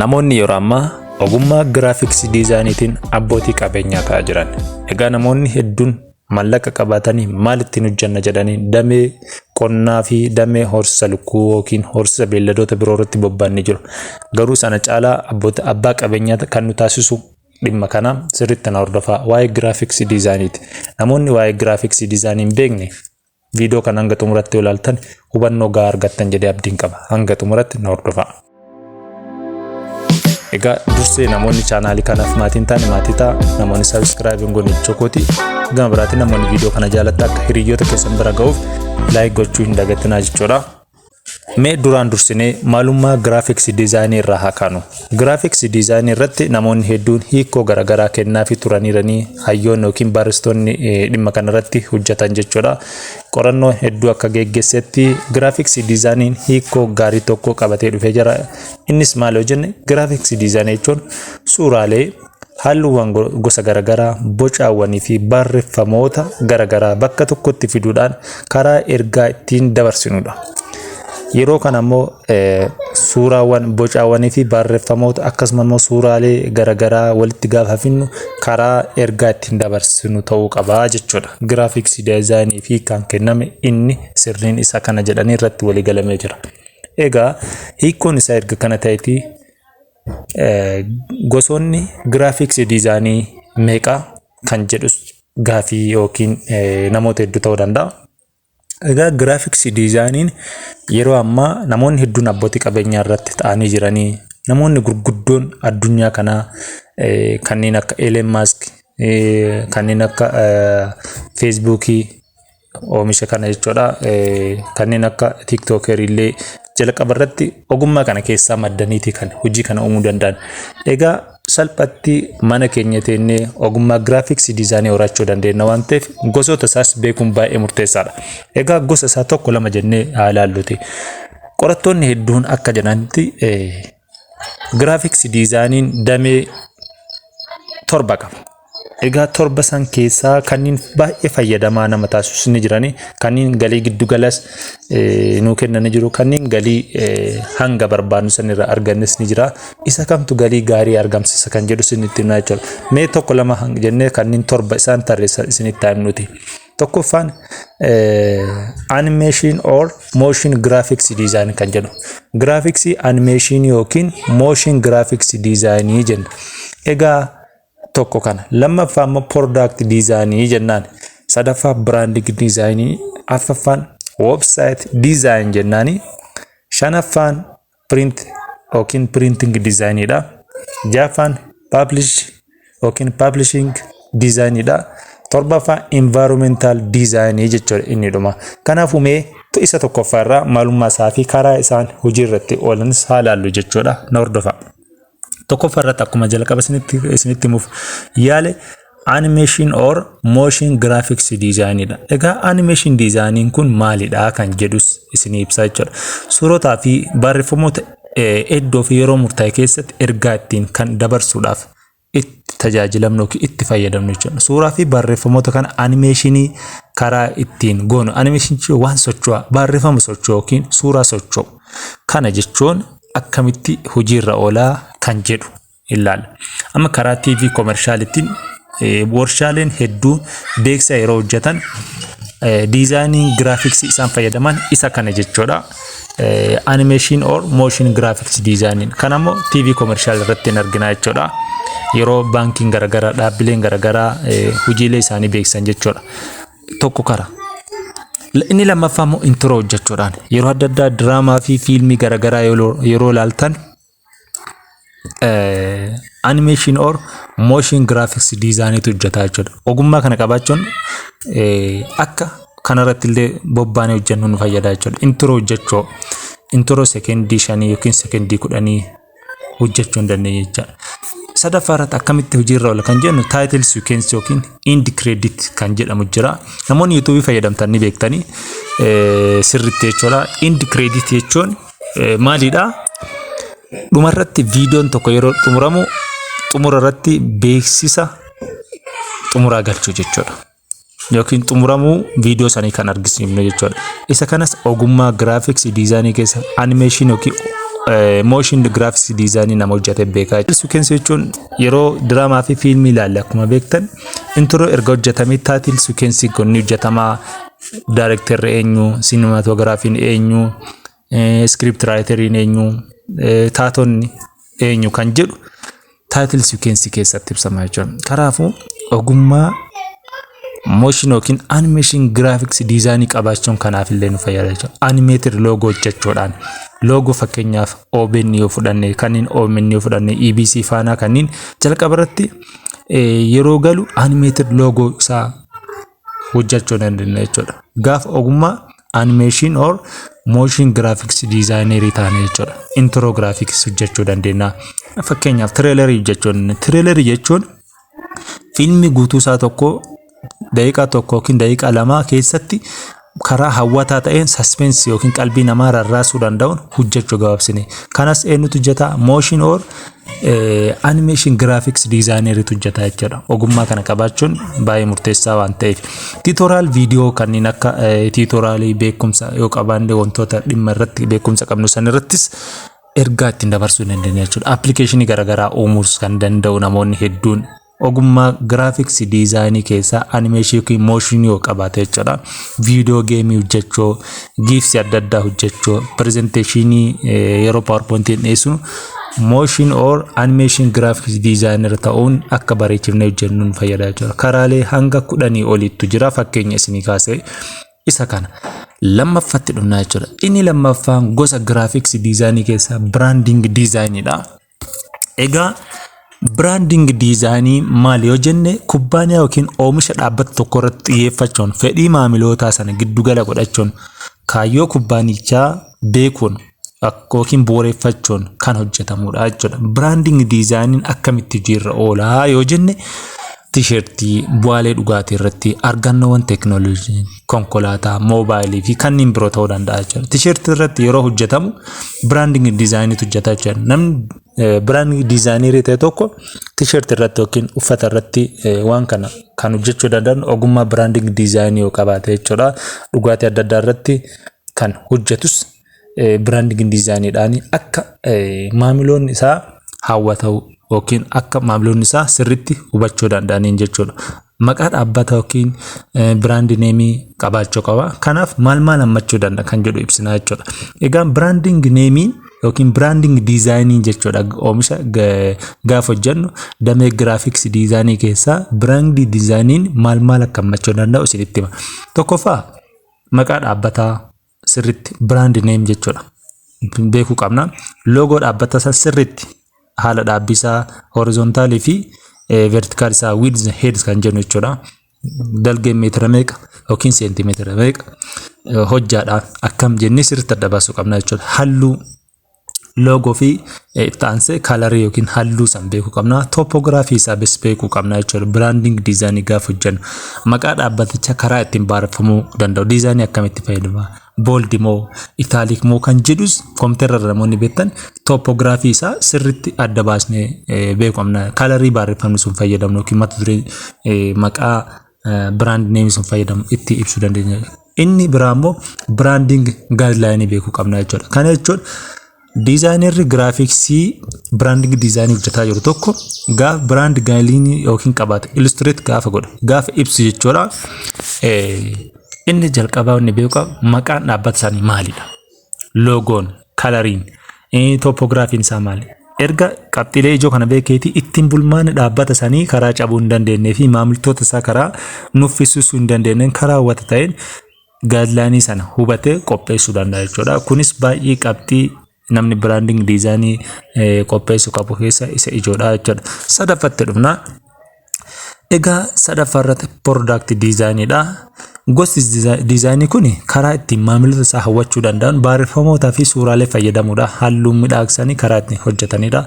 Namoonni yeroo ammaa ogummaa giraafiksii diizaayiniitiin abbootii qabeenyaa ta'aa jiran. Egaa namoonni hedduun mallaqa qabaatanii maal ittiin hojjanna jedhanii damee qonnaa fi damee horsiisa lukkuu yookiin horsiisa beelladoota biroo irratti bobba'anii jiru. Garuu sana caalaa abboota abbaa qabeenyaa kan nu taasisu dhimma kana sirriitti na hordofaa waa'ee giraafiksii diizaayiniiti. Namoonni waa'ee giraafiksii diizaayinii hin beekne Viidiyoo kana hanga xumuratti yoo ilaaltan hubannoo gahaa argattan jedhee abdiin qaba. Hanga xumuratti na hordofaa. Egaa dursee namoonni chaanaalii kanaaf maatii hin taane maatii ta'a. Namoonni sabiskiraayibii hin goone chokooti. Gama biraatiin namoonni viidiyoo kana jaalatta akka hiriyoota keessan bira ga'uuf laayik gochuu hin dagatinaa jechuudha. Mee duraan dursinee maalummaa giraafiksii diizaayinii irraa haa kaanu. Giraafiksii diizaayinii irratti namoonni hedduun hiikoo garaagaraa kennaafi turaniiranii hayyoonni yookiin barreessitoonni dhimma kanarratti hojjetan jechuudha. Qorannoo hedduu akka geggeessetti giraafiksii diizaayiniin hiikoo gaarii tokko qabatee dhufee jira. Innis maal yoo jenne giraafiksii diizaayinii jechuun suuraalee Halluuwwan gosa garaagaraa, bocaawwanii fi barreeffamoota garaagaraa bakka tokkotti fiduudhaan karaa ergaa ittiin dabarsinudha. Yeroo kana immoo suuraawwan, bocaawwanii fi barreeffamoota akkasuma immoo suuraalee garaagaraa walitti gaafa finnu karaa ergaa ittiin dabarsinu ta'uu qaba jechuudha. Giraafiksii daayizaayinii fi kan kenname inni sirriin isa kana jedhanii irratti walii galamee jira. Egaa hiikkoon isaa erga kana ta'eeti Gosoonni giraafiksii diizaanii meeqa kan jedhus gaafii yookiin namoota hedduu ta'uu danda'a. Egaa giraafiksii diizaaniin yeroo ammaa namoonni hedduun abbootii qabeenyaa irratti ta'anii jiranii namoonni gurguddoon addunyaa kanaa kanneen akka Elon Musk kanneen akka Feesbuukii oomisha kana jechuudha. Kanneen akka tiiktookerii illee jalqaba irratti ogummaa kana keessaa maddaniiti kan hojii kana uumuu danda'an. Egaa salphatti mana keenya teennee ogummaa giraafiksii diizaanii horachuu dandeenya waan ta'eef gosoota isaas beekuun baay'ee murteessaadha. Egaa gosa isaa tokko lama jennee haa ilaalluti. Qorattoonni hedduun akka jedhanitti Giraafiksii diizaayiniin damee torba qaba. Egaa torba san keessaa kanneen baay'ee fayyadamaa nama taasisu ni jirani. Kanneen galii giddu galas nuu kennani jiru. Kanneen galii hanga barbaadnu san irraa argannes ni jira. Isa kamtu galii gaarii argamsiisa kan jedhu isinitti himna jechuudha. Mee tokko lama jennee kanneen torba isaan tarreessan isinitti himnuti. Tokkoffaan animation or motion graphics design kan jedhu. Graphics animation yookiin motion graphics design jenna. Egaa tokko kana. Lammaffaa immoo product design jennaan. Sadaffaa branding design. Afraffaan website design jennaani. Shanaffaan print yookiin printing design dha. Jaffaan publish yookiin publishing design dha. Torbaffaa environmental design jechuudha inni dhuma. Kanaafuu mee isa tokkoffaa irraa maalummaa isaa fi karaa isaan hojii irratti oolanis haa laallu jechuudha. Na hordofaa. Tokkoffaa irratti akkuma jalqaba isinitti isinitti himuuf yaale animation or motion graphics design dha. Egaa animation design kun maalidha kan jedhus isinii ibsaa jechuudha. Suurotaa fi barreeffamoota iddoo fi yeroo murtaa'e keessatti ergaa ittiin kan dabarsuudhaaf itti tajaajilamnu yookiin itti fayyadamnu jechuudha. Suuraa fi barreeffamoota kana animeeshinii karaa ittiin goonu animeeshinii waan socho'aa barreeffama socho'u yookiin suuraa socho'u kana jechuun akkamitti hojiirra oolaa kan jedhu ilaalla. Amma karaa TV komershaalittiin warshaaleen hedduun beeksisa yeroo hojjetan diizaayinii giraafiksii isaan fayyadaman isa kana jechuudha. Animation or motion graphics design kan ammoo TV komershaal irratti hin argina jechuudha. Yeroo baankiin garaagaraa dhaabbileen garaagaraa hojiilee isaanii beeksisan jechuudha. tokko kara. Inni lammaffaa immoo intro hojjechuudhaan yeroo adda addaa diraamaa fi fiilmii garaagaraa yeroo ilaaltan animation or motion graphics diizaayiniitu hojjetaa jechuudha. Ogummaa kana qabaachuun akka kanarratti illee bobbaanee hojjennu nu fayyada jechuudha. Intro hojjechuu intro sekendii shanii yookiin sekendii kudhanii hojjechuu hin dandeenye jechaadha. Sadaffaa irratti akkamitti hojiirra oola kan jennu taayitil siikweensii yookiin indi kireedit kan jedhamu jira. Namoonni yuutuubii fayyadamtan ni beektanii sirriitti jechuudha. Indi kireedit jechuun maalidha? Dhumarratti viidiyoon tokko yeroo xumuramu xumura irratti beeksisa xumuraa galchuu jechuudha. yookiin xumuramuu viidiyoo sanii kan argisiifnu jechuudha. Isa kanas ogummaa giraafiksii diizaayinii keessa animeeshin yookiin mooshin giraafiksii diizaayinii nama hojjete beekaa jechuudha. Suukensii jechuun yeroo diraamaa fi fiilmii ilaalle akkuma beektan intiroo erga hojjetamee taatil suukensii kun ni hojjetama. Daarekterri eenyu, siinimaatogiraafiin eenyu, iskiriipti raayiteriin eenyu taatonni eenyu kan jedhu taayitil sikwensii keessatti ibsama jechuudha. Kanaafuu ogummaa mooshin yookiin animeeshin giraafiks diizaayinii qabaachuun kanaaf illee nu fayyada jechuudha. Animeetir loogoo hojjechuudhaan loogoo fakkeenyaaf OBN yoo fudhanne kanneen OMN yoo fudhanne EBC faanaa kanneen jalqaba irratti yeroo galu animeetir loogoo isaa hojjachuu dandeenya jechuudha. Gaafa ogummaa animation or motion graphics designer taane jechuudha. Intro graphics hojjachuu dandeenya. Fakkeenyaaf trailer hojjachuu dandeenya. Trailer jechuun fiilmii guutuu isaa tokko daqiiqaa tokko yookiin daqiiqaa lamaa keessatti karaa hawwataa ta'een suspense yookiin qalbii namaa rarraasuu danda'uun hojjechuu gabaabsine. Kanas eenyutu hojjeta? Motion or animation graphics designer'tu hojjeta jechuudha. Ogummaa kana qabaachuun baay'ee murteessaa waan ta'eef. Tiitoraal viidiyoo kanneen akka tiitoraalii beekumsa yoo qabaanne wantoota dhimma irratti beekumsa qabnu san irrattis ergaa ittiin dabarsuu dandeenya jechuudha. Appilikeeshinii garaagaraa uumuus kan danda'u namoonni hedduun ogummaa giraafiksii diizaayinii keessaa animeeshii yookiin mooshinii yoo qabaate jechuudha. Viidiyoo geemii hojjechuu, giifsii adda addaa hojjechuu, pirezenteeshinii yeroo paawurpointiin dhiyeessu mooshin or animeeshin giraafiksii diizaayinara ta'uun akka bareechifnee hojjennu nu fayyada jechuudha. Karaalee hanga kudhanii oliittu jira fakkeenya isinii kaasee isa kana. Lammaffatti dhufnaa jechuudha. Inni lammaffaan gosa giraafiksii diizaayinii keessaa biraandiing diizaayiniidha. Egaa biraandingi diizaayinii maali yoo jenne kubbaaniyaa yookiin oomisha dhaabbata tokko irratti xiyyeeffachuun fedhii maamilootaa sana giddu gala godhachuun kaayyoo kubbaanichaa beekuun ak- yookiin bu'uureffachuun kan hojjetamudha jechuudha. Biraandingi diizaayiniin akkamitti hojiirra oolaa yoo jenne tiishertii, bu'aalee dhugaatii irratti argannoowwan teekinooloojii konkolaataa, moobaayilii fi kanneen biroo ta'uu danda'a jechuudha. Tisheertii irratti yeroo hojjetamu biraandingi diizaayiniitu hojjeta jechuudha. Namni biraandingi diizaayiniirii ta'e tokko tisheertii irratti yookiin uffata irratti waan kana kan hojjechuu danda'an ogummaa biraandingi diizaayinii yoo qabaate jechuudha. Dhugaatii adda addaa irratti kan hojjetus biraandingi diizaayiniidhaan akka maamiloonni isaa hawwatau yookiin akka maamiloonni isaa sirriitti hubachuu danda'aniin jechuudha. Maqaa dhaabbata yookiin biraandi neemii qabaachuu qaba. Kanaaf maal maal hammachuu danda'a kan jedhu ibsinaa jechuudha. Egaa biraandingi neemii yookiin biraandingi diizaayinii jechuudha oomisha gaafa hojjennu damee giraafiksii diizaayinii keessaa biraandii diizaayiniin maal maal akka hammachuu danda'u isinitti hima. Tokkoffaa maqaa dhaabbataa sirritti brand name jechuudha beekuu qabna loogoo dhaabbata isaa sirritti haala dhaabbii isaa horizontaalii fi vertikaal isaa width heads kan jennu jechuudha dalgeen meetira meeqa yookiin seentimeetira meeqa hojjaadhaan akkam jennee sirritti adda baasuu qabna jechuudha halluu logo fi itti aansee kaalarii yookiin halluu san beekuu qabna. Topografii isaa bis beekuu qabna jechuudha. Branding diizaanii gaafa hojjennu maqaa dhaabbaticha karaa ittiin baareffamuu danda'u. Diizaanii akkamitti fayyadama? Booldi moo itaalik moo kan jedhus kompiitara irra namoonni beektan topografii isaa sirriitti adda baasnee beekuu qabna. Kaalarii baareffamni sun fayyadamnu yookiin mata duree maqaa biraand neemii sun fayyadamu itti ibsuu dandeenya. Inni biraa immoo biraandiing gaayidlaayinii beekuu qabna jechuudha. Kana jechuun diizaayinerri giraafiksii biraandiing diizaayinii hojjetaa jiru tokko gaafa biraand gaayidlaayinii yookiin qabaate illustireet gaafa godhe gaafa ibsu jechuudha. Inni jalqabaa inni beeku maqaan dhaabbata isaanii maalidha? loogoon kalariin tooppoogiraafiin isaa maali? Erga qabxiilee ijoo kana beekeetii ittiin bulmaanni dhaabbata sanii karaa cabuu hin dandeenyee fi maamiltoota isaa karaa nuffisiisuu hin dandeenyeen karaa hawwata ta'een gaadlaanii sana hubatee qopheessuu danda'a jechuudha. Kunis baay'ee qabxii namni biraanding diizaanii qopheessu qabu keessa isa ijoodha jechuudha. Sadaffatti dhufna. Egaa sadaffaa irratti product design dha. Gosti diizaayinii kun karaa ittiin maamilota isaa hawwachuu danda'an barreeffamootaa fi suuraalee fayyadamuudha. Halluun midhaagsanii karaa ittiin hojjetanidha.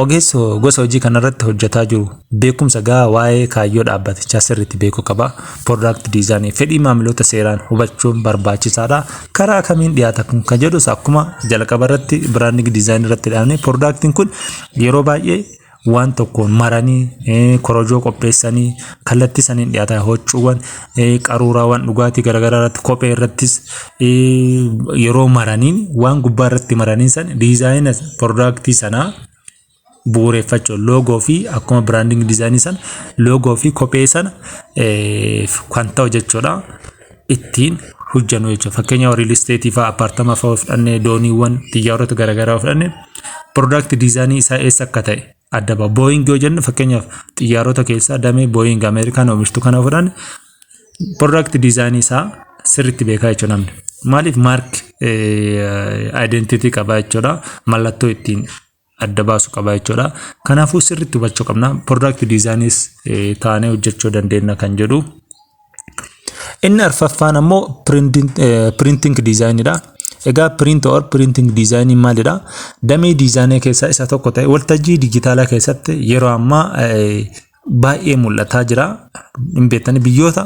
Ogeessi gosa hojii kanarratti hojjetaa jiru beekumsa gahaa waa'ee kaayyoo dhaabbatichaa sirriitti beekuu qaba. Product design fedhii maamilota seeraan hubachuun barbaachisaadha. Karaa kamiin dhiyaata kun kan jedhus akkuma jalqaba irratti branding design irratti dhaabne productiin kun yeroo baay'ee waan tokkoon maranii eh, korojoo qopheessanii kallattii saniin dhiyaata hoccuuwwan eh, qaruuraawwan dhugaatii garaagaraa irratti kophee irrattis eh, yeroo maraniin waan gubbaa irratti maraniin san diizaayina piroodaaktii sanaa bu'uureffachuun loogoo fi akkuma biraandingi diizaayinii sana loogoo fi kophee sana eh, kan ta'u jechuudha. ittiin hojjannu jechuudha. Fakkeenyaaf riil isteetii fa'aa appaartama fa'aa fudhannee dooniiwwan xiyyaarota garaagaraa fudhannee piroodaakti diizaanii isaa eessa akka ta'e adda ba'a. Booying yoo jennu fakkeenyaaf xiyyaarota keessaa damee booying Ameerikaan oomishtu kana fudhanne piroodaakti diizaanii isaa sirriitti beekaa jechuudha namni. Maaliif maark aayidentiitii qabaa jechuudha mallattoo ittiin adda baasu qaba jechuudha. Kanaafuu sirriitti hubachuu qabna. Product designis taanee hojjechuu dandeenya kan jedhu. Inni arfaffaan ammoo printing designidha. Egaa print or printing design maalidha? Damee diizaanii keessaa isa tokko ta'e waltajjii dijitaalaa keessatti yeroo ammaa baay'ee mul'ataa jira. Hin beektani biyyoota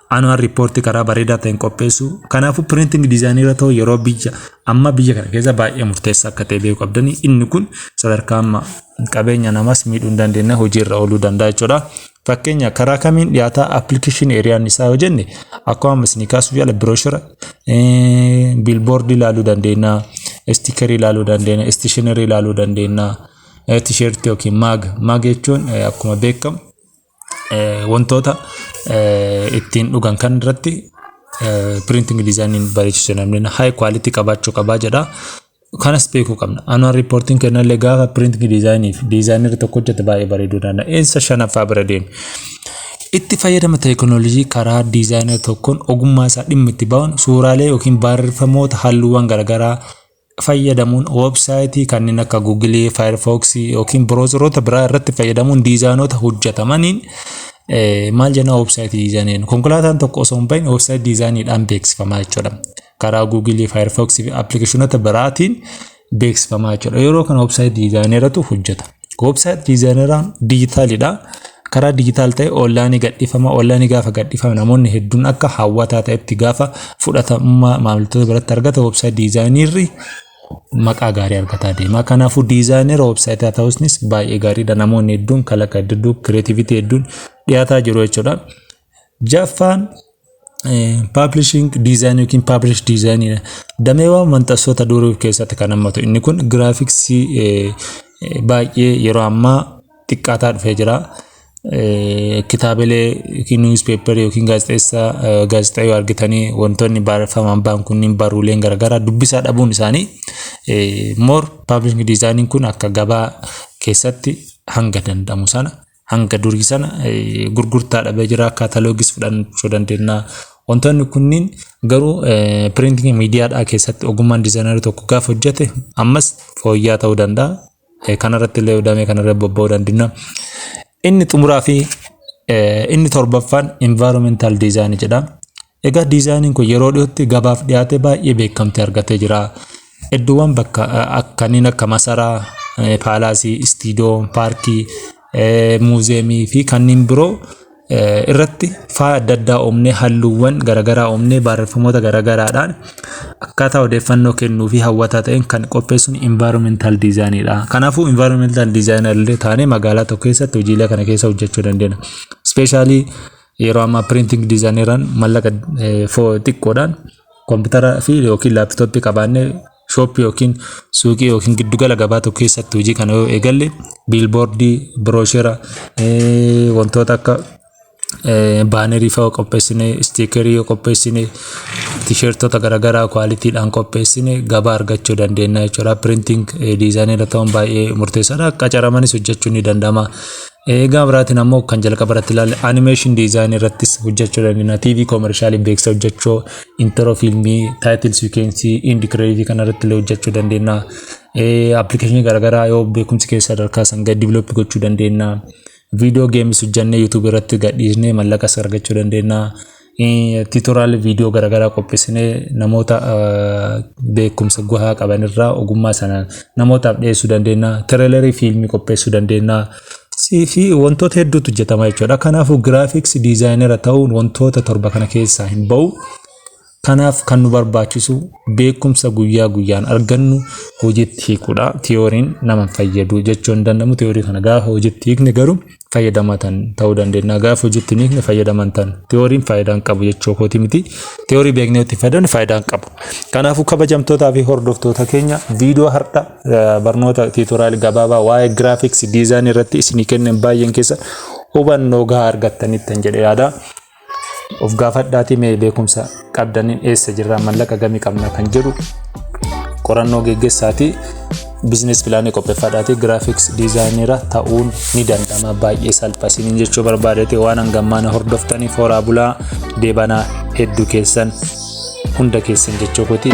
annual report karaa bareedaa ta'een qopheessuu kanaafuu printing design irra ta'u yeroo biyya amma biyya kana keessa baay'ee murteessaa akka ta'e beekuu qabdanii inni kun sadarkaa amma qabeenya namas miidhuu hin dandeenye hojiirra ooluu danda'a jechuudha. Fakkeenya karaa kamiin dhiyaataa appilikeeshinii eriyaan isaa yoo jenne akkuma amma isinii kaasuuf yaala birooshira biilboordii ilaaluu dandeenya istikerii ilaaluu dandeenya istishinerii ilaaluu dandeenya tisheertii yookiin maaga maaga jechuun akkuma beekamu wantoota ittiin dhugan kan irratti printing design bareechisu namni high quality qabaachuu qabaa jedha. Kanas beekuu qabna. Annual reporting kennallee gaafa printing design fi designer tokko hojjete baay'ee bareeduu danda'a. Insa shanaffaa bira deemu. Itti fayyadama teekinooloojii karaa diizaayinara tokkoon ogummaa isaa dhimma itti ba'uun suuraalee yookiin barreeffamoota halluuwwan garaagaraa fayyadamuun websaayitii kanneen akka Google, Firefox yookiin browseroota biraa irratti fayyadamuun diizaayinoota hojjetamaniin maal jenna websaayitii diizaayiniin konkolaataan tokko osoo hin bahin websaayitii diizaayiniidhaan beeksifama jechuudha. Karaa Google, Firefox fi appilikeeshinoota biraatiin beeksifama jechuudha. Yeroo kana websaayitii diizaayinii irratti hojjetama. Website diizaayineraan diijitaalidha. Karaa diijitaal ta'e onlaayinii gadhiifama. Onlaayinii gaafa gadhiifame namoonni hedduun akka hawwataa ta'etti gaafa fudhatamummaa maamiltoota biratti argata website diizaayinirri maqaa gaarii argataa deema. Kanaafuu diizaayinera websaayitaa ta'uunis baay'ee gaariidha. Namoonni hedduun kalaqa hedduun kireetiviitii hedduun dhiyaataa jiru jechuudha. Jaffaan paablishiing diizaayinii yookiin paablish diizaayiniidha. Dameewwan maxxansoota durii of keessatti kan hammatu. Inni kun giraafiksii baay'ee yeroo ammaa xiqqaataa dhufee jira. Kitaabilee yookiin niwuspeeparii yookiin gaazexeessaa gaazexaa yoo argitanii wantoonni barreeffamaan ba'an kunniin baruuleen garaagaraa dubbisaa dhabuun isaanii moor paablishiing diizaayiniin kun akka gabaa keessatti hanga danda'amu sana hanga durii sana gurgurtaa dhabee jira kaataloogis fudhachuu dandeenya. Wantoonni kunniin garuu piriintii miidiyaadhaa keessatti ogummaan diizaayinerii tokko gaafa hojjete ammas fooyyaa ta'uu danda'a. Kanarratti illee damee kanarra bobba'uu dandeenya. Inni xumuraa fi inni torbaffaan environmental design jedha. Egaa diizaayiniin kun yeroo dhiyootti gabaaf dhiyaatee baay'ee beekamtii argatee jira. Iddoowwan bakka kanneen akka masaraa, paalaasii, istiidoo, paarkii, muuziyeemii fi kanneen biroo irratti faaya adda addaa uumnee halluuwwan garaagaraa uumnee barreeffamoota garaagaraadhaan akkaataa odeeffannoo kennuu fi hawwataa ta'een kan qopheessuun environmental design dha. Kanaafuu environmental designer illee taanee magaalaa tokko keessatti hojiilee kana keessa hojjechuu dandeenya. Ispeeshaalii Yeroo ammaa printing diizaayineeraan mallaqa xiqqoodhaan koompitara fi yookiin laaptooppii qabaannee shooppii yookiin suuqii yookiin giddugala gabaa tokko keessatti hojii kana yoo eegalle biilboordii, birooshera, wantoota akka baanerii fa'aa qopheessine, istiikerii yoo qopheessine, tisheertota garaagaraa kwaalitiidhaan qopheessine gabaa argachuu dandeenya jechuudha. Printing diizaayineera ta'uun baay'ee murteessaadha. Qacaramanis hojjechuun ni danda'ama. Eegaa biraatiin ammoo kan jalqaba irratti ilaalle animation design irrattis hojjechuu dandeenya. TV commercialii beeksisa hojjechuu, intro filmii, title sequence, end credit kana irratti illee hojjechuu dandeenya. Application garaagaraa yoo beekumsi keessa sadarkaa san gad develop gochuu dandeenya. Video games hojjennee YouTube irratti gadhiisnee mallaqas argachuu dandeenya. Tiitoraal viidiyoo garaagaraa qopheessinee namoota beekumsa gahaa qaban irraa ogummaa sana namootaaf dhiyeessuu dandeenya. Tireelarii fiilmii qopheessuu dandeenya. fi wantoota hedduutu hojjetama jechuudha. Kanaafuu giraafiks diizaayinera ta'uun wantoota torba kana keessaa hin ba'u. Kanaaf kan nu barbaachisu beekumsa guyyaa guyyaan argannu hojiitti hiikuudha. Tiyooriin nama hin fayyadu jechuu hin danda'amu. Tiyoorii kana gaafa hojiitti hiikne garuu fayyadamatan ta'uu dandeenya. Gaafa hojiitti miikne fayyadaman tan tiyooriin faayidaa hin qabu jechuu kooti miti. Tiyoorii beeknee itti fayyadamne faayidaa hin qabu. Kanaafuu kabajamtootaa fi hordoftoota keenya viidiyoo har'a barnoota tiitooraal gabaabaa waa'ee giraafiks diizaayinii irratti isinii kenneen baay'een keessa hubannoo gahaa argattanittan jedhe yaada. Of gaafadhaatii mee beekumsa qabdaniin eessa jirraa mallaqa gamii qabna kan jedhu qorannoo geggeessaatii bizinees pilaanii qopheeffadhaatii giraafiks diizaayinira ta'uun ni danda'ama baay'ee salpha isiniin jechuu barbaadate waan hangammaana hordoftaniif horaa bulaa deebanaa hedduu keessan hunda keessan jechuu kotii.